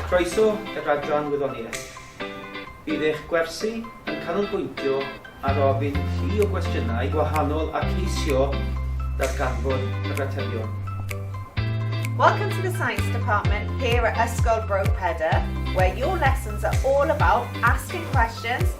Croeso i'r adran Wyddoniaeth. Bydd eich gwersi yn canolbwyntio ar ofyn llu o gwestiynau gwahanol a ceisio darganfod yr atebion. Welcome to the Science Department here at Ysgol Bro Pedyr, where your lessons are all about asking questions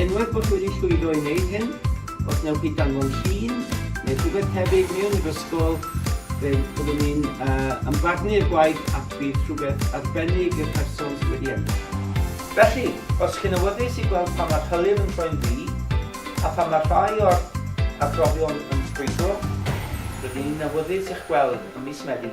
Unwaith bod chi wedi llwyddo i wneud hyn, os wnewch chi danfon llun neu rhywbeth tebyg mewn i'r ysgol, fe fyddwn ni'n ymfarnu'r gwaith ac bydd rhywbeth arbennig i'r person sydd wedi ennill. Felly, os chi'n awyddus i gweld pan mae'r hylif yn troi'n ddu, a phan mae rhai o'r arbrofion yn ffrwydro, rydyn ni'n awyddus i'ch gweld ym mis Medi.